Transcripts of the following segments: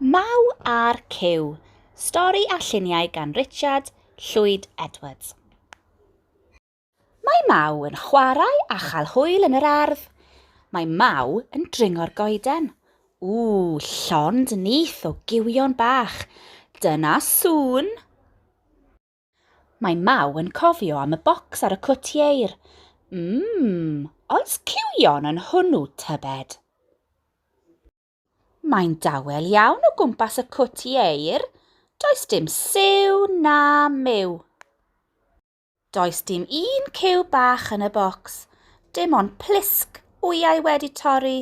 Maw a'r Cyw, stori a lluniau gan Richard Llwyd Edwards. Mae Maw yn chwarae a chael hwyl yn yr ardd. Mae Maw yn dringo'r goeden. Ww, llond nyth o gywion bach. Dyna sŵn! Mae Maw yn cofio am y bocs ar y cwtieir. Mmm, oes cywion yn hwnnw tybed? Mae'n dawel iawn o gwmpas y cwt ieir. Does dim siw na myw. Does dim un cyw bach yn y bocs. Dim ond plisg wyau wedi torri.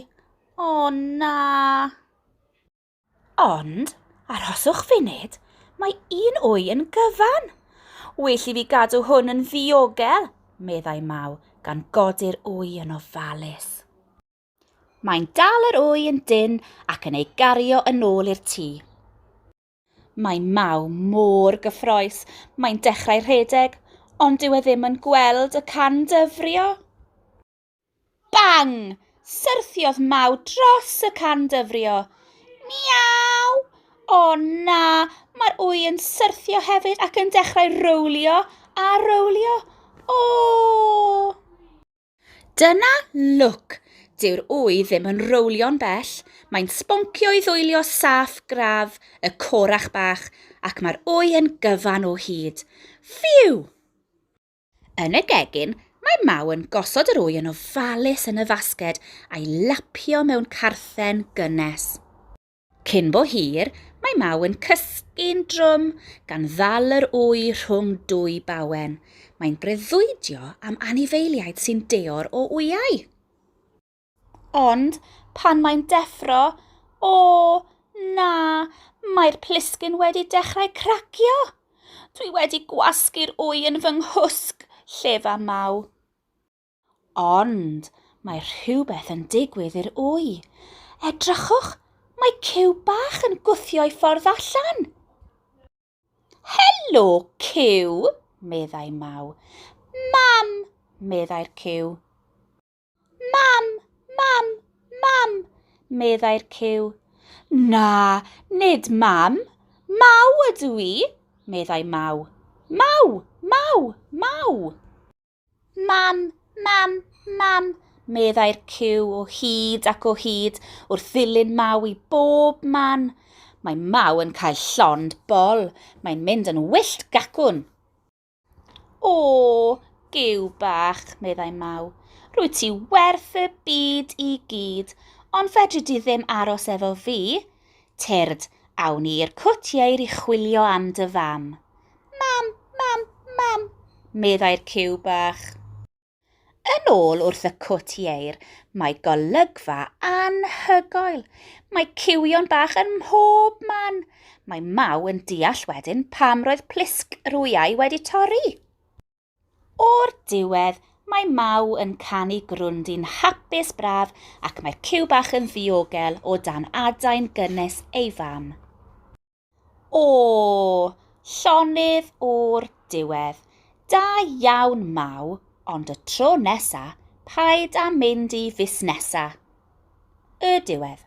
O na! Ond, arhoswch funud, mae un wy yn gyfan. Well i fi gadw hwn yn ddiogel, meddai Maw, gan godi'r wy yn ofalus. Mae'n dal yr wy yn dyn ac yn ei gario yn ôl i'r tŷ. Mae Maw mor gyffroes, mae'n dechrau rhedeg, ond dyw e ddim yn gweld y can dyfrio. Bang! Syrthiodd Maw dros y can dyfrio. Miaw! O na, mae'r wy yn syrthio hefyd ac yn dechrau rowlio a rowlio. O! Dyna lwc! Dyw'r ŵy ddim yn rowlio'n bell, mae'n sboncio i ddwylio saff gradd y corach bach ac mae'r ŵy yn gyfan o hyd. Ffîw! Yn y gegin, mae Maw yn gosod yr ŵy yn ofalus yn y fasged a'i lapio mewn carthen gynnes. Cyn bo hir, mae Maw yn cysgu'n drwm gan ddal yr wy rhwng dwy bawen. Mae'n breuddwydio am anifeiliaid sy'n deor o wyau. Ond pan mae'n deffro, o, na, mae'r plisgyn wedi dechrau cracio! Dwi wedi gwasgu'r wy yn fy nghwsg, llefa Maw. Ond mae rhywbeth yn digwydd i'r wy. Edrychwch, mae Cyw bach yn gwthio'i ffordd allan. Helo, Cyw, meddai Maw. Mam, meddai'r Cyw. Mam, mam, mam, meddai'r Cyw. Na, nid mam, maw ydw i, meddai Maw. Maw, maw, maw. Mam, mam, mam, meddai'r cyw o hyd ac o hyd wrth ddilyn Maw i bob man. Mae Maw yn cael llond bol, mae'n mynd yn wyllt gacwn. O, gyw bach, meddai Maw, rwy ti werth y byd i gyd, ond fedri di ddim aros efo fi, Tyrd, awn ni i'r cwt ieir i chwilio am dy fam. Mam, mam, mam, meddai'r ciw bach. Yn ôl wrth y cwt ieir, mae golygfa anhygoel. Mae ciwion bach yn mhob man. Mae Maw yn deall wedyn pam roedd plisg yr wyau wedi torri. O'r diwedd, mae Mau yn canu grwndin hapus braf ac mae'r cyw bach yn ddiogel o dan adain gynnes ei fam. O, llonydd o'r diwedd. Da iawn, Mau, ond y tro nesa, paid â mynd i fusnesa. Y diwedd.